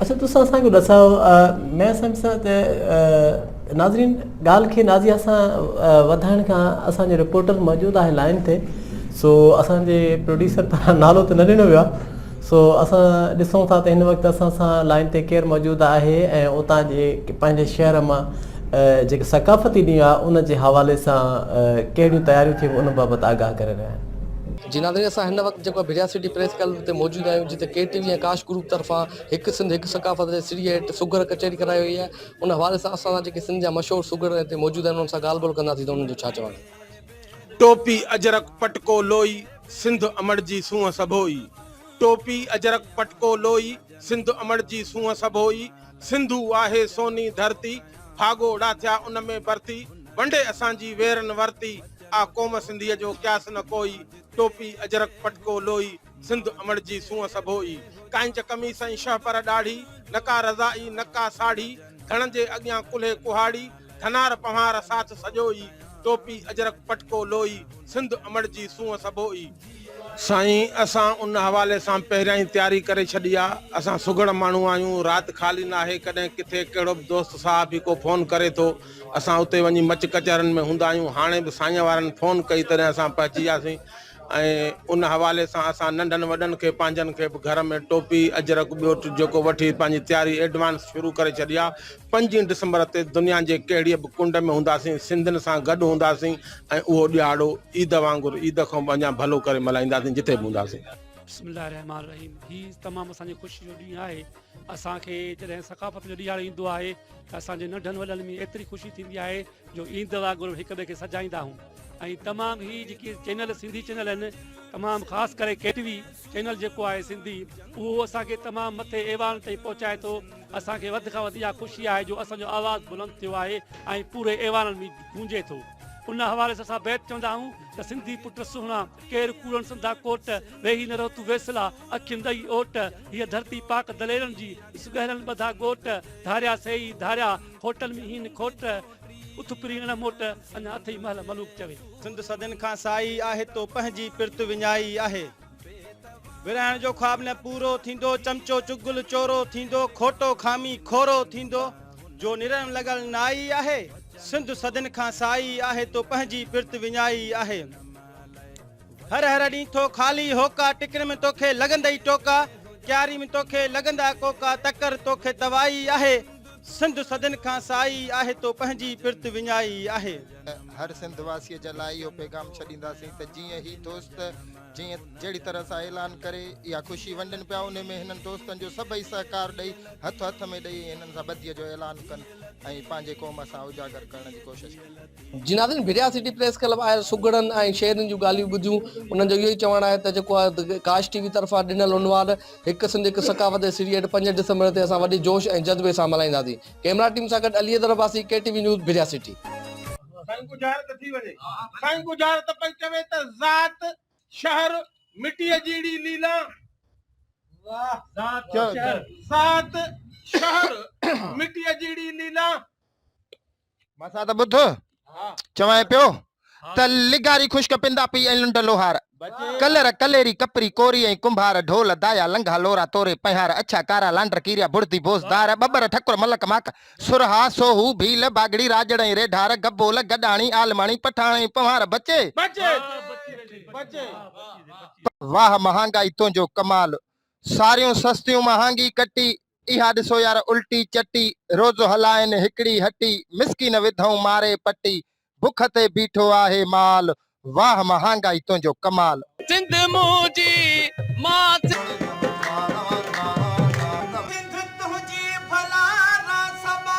اچا تسان اسان کي ڏسايو مين سمجهه سان ته ناظرين ڳالهه کي نازيا سان وڌائڻ کان اسان جو رپورٽر موجود آهي لائن تي سو اسان جي پروڊيوسر پاران نالو ته نه ڏنو ويو آهي سو اسان ڏسون ٿا ته هن وقت اسان سان لائن تي ڪير موجود آهي ۽ اتان جي پنهنجي شهر مان جيڪي ثقافتي ڏينهن آهي ان جي حوالي سان ڪهڙيون تياريون ٿيون ان بابت آگاهه ڪري رهيا آهن جي ناظرين اسان هن وقت جيڪو ڀريا سٽي پريس ڪلب تي موجود آهيون جتي ڪي ٽي وي ۽ ڪاش گروپ طرفان هڪ سنڌ هڪ ثقافت جي سري هيٺ سگهڙ ڪچهري ڪرائي وئي آهي ان حوالي سان اسان سان جيڪي سنڌ جا مشهور سگهڙ هتي موجود آهن انهن سان ڳالهه ٻولهه ڪنداسين ته انهن جو ڇا چوڻ آهي. ٽوپي اجرڪ پٽڪو لوئي سنڌ امڙ جي سونهن سڀوئي ٽوپي اجرڪ پٽڪو لوئي سنڌ امڙ جي سونهن سڀوئي سنڌو آهي سوني ڌرتي ڦاڳو ڙاٿيا ان ۾ برتي ونڊي اسان جي ويرن ورتي آ قوم سنڌيء جو قياس نه ڪوئي، ٽوپي اجرڪ پٽڪو لوئي، سنڌ امڙ جي سونهن سڀوئي. ڪائنچ قميص ۽ شهپر ڏاڙهي، نه ڪا رضائي نه ڪا ساڙهي، ڌڻن جي اڳيان ڪلهي ڪهاڙي، ڌنار پنهار ساٿ سڄوئي، ٽوپي اجرڪ پٽڪو لوئي، سنڌ امڙ جي سونهن سڀوئي. سائين اسان ان حوالي سان پهريان ئي تياري ڪري ڇڏي آ، اسان سگهڙ ماڻهو آهيون، رات خالي ناهي، ڪڏهن ڪٿي ڪهڙو به دوست صاحب هي ڪو فون ڪري ٿو، اسان اتي وڃي مچ ڪچهرين ۾ هوندا آهيون. هاڻي به سائينء وارن فون ڪئي تڏهن اسان پهچي وياسين ۽ ان حوالي سان اسان ننڍن وڏن کي پنهنجن کي به گهر ۾ ٽوپي، اجرڪ ٻيو ٽي جيڪو وٺي پنهنجي تياري ايڊوانس شروع ڪري ڇڏي آ. پنجين ڊسمبر تي دنيا جي ڪهڙيء به ڪنڊ ۾ هونداسين سنڌين سان گڏ هونداسين ۽ اهو ڏهاڙو عيد وانگر عيد کان به اڃا ڀلو ڪري ملهائينداسين جتي به هونداسين. بسم الله الرحمٰن الرحيم هي تمام اسان جي خوشي جو ڏينهن آهي اسان کي جڏهن ثقافت جو ڏيهاڙو ايندو آهي ته اسان جي ننڍن وڏن ۾ ايتري خوشي ٿيندي آهي جو عيد وانگر هڪ ٻئي کي سجائيندا آهيون ۽ تمام هي جيڪي چينل سنڌي چينل آهن تمام خاص ڪري ڪي ٽي وي چينل جيڪو آهي سنڌي اهو اسان کي تمام مٿي ايوان تائين پهچائي ٿو اسان کي وڌ کان وڌ اها خوشي آهي جو اسان جو آواز بلند ٿيو آهي ۽ پوري ايوانن ۾ گونجي ٿو ان حوالي سان اسان بيت چوندا آهيون ته سنڌي پٽ سهڻا ڪير ڪوڙن سنڌا ڪوٽ ويهي نه رهو تون ويسلا اکين ڏئي اوٽ، هيء ڌرتي پاڪ دليرن جي، سڳهرن ٻڌا ڳوٽ، ڌاريا سي ئي ڌاريا، کوٽن ۾ هين کوٽ، اٿ پرين اڻ موٽ، اڃا اٿئي مهل ملوڪ چوي. سنڌ صدين کان سائي آهي، تو پنهنجي پرت وڃائي آهي. ورهائڻ جو خواب نه پورو ٿيندو، چمچو چغل چورو ٿيندو، کوٽو خامي کورو ٿيندو، جو نرڙ لڳل نائي آهي. سنڌ صدين کان سائي آهي، تو پنهنجي پرت وڃائي آهي. هر هر ڏينهن ٿو خالي هوڪا ٽڪرين ۾ توکي لڳندئي ٽوڪا ڪياري ۾ توکي لڳندا ڪوڪا تڪر توکي توائي آهي سنڌ صدين کان سائي آهي تو پنهنجي پرت وڃائي آهي. هر سنڌ واسي جي لاء اهو پيغام ڇڏينداسين ته جيئن هي دوست جيئن جهڙي طرح سان اعلان ڪري اها خوشي ونڊن پيا انهي ۾ هنن دوستن جو سڀئي سهڪار ڏئي هٿ هٿ ۾ ڏئي هنن سان ٻڌي جو اعلان ڪن ۽ پنهنجي قوم سان اجاگر ڪرڻ جي ڪوشش ڪن. جي ناظرين ڀريا سٽي پريس ڪلب آيل سگهڙن ۽ شعرن جون ڳالهيون ٻڌيون انهن جو اهو ئي چوڻ آهي ته جيڪو ڪاش ٽي وي طرفان ڏنل عنوان هڪ سنڌ هڪ ثقافت جي سيڙيهٽ پنج ڊسمبر تي اسان وڏي جوش ۽ جذبي سان ملهائينداسين ڪيمرا ٽيم سان گڏ Ali Haider Abbasi K T V news Bhiria city. سائين ڪو ظاهر ته ٿي وڃي سائين ڪو ظاهر ته پئي چوي ته ذات شهر مٽيء جيڙي ليلا ذات شهر مٽيء جيڙي ليلا ڀرسان ته ٻڌ چوانء پيو ته لغاري خشڪ پندا پي ۽ لنڊ لوهار ڪلر ڪليري ڪپري ڪوري ۽ ڪنڀار ڍول دايا لنگها لورا توري پنهار اڇا ڪارا لانڊر ڪيريا بڙدي بوزدار ٻٻر ٺڪر ملڪ ماڪ سرها سوهو ڀيل باگڙي راڄڙ ۽ ريڍار گبول گڏاڻي عالماڻي پٺاڻ ۽ پنهار بچي واهه مهانگائي تنهنجو ڪمال ساريون سستيون مهانگي ڪٽي، اها ڏسو يار الٽي چٽي، روز هلائين هڪڙي هٽي، مسڪين وڌئون ماري پٽي، بک تي بيٺو آهي مال، واهه مهانگائي تنهنجو ڪمال. سنڌ منهنجي مان سنڌ تنهنجي ڀلا راسبا.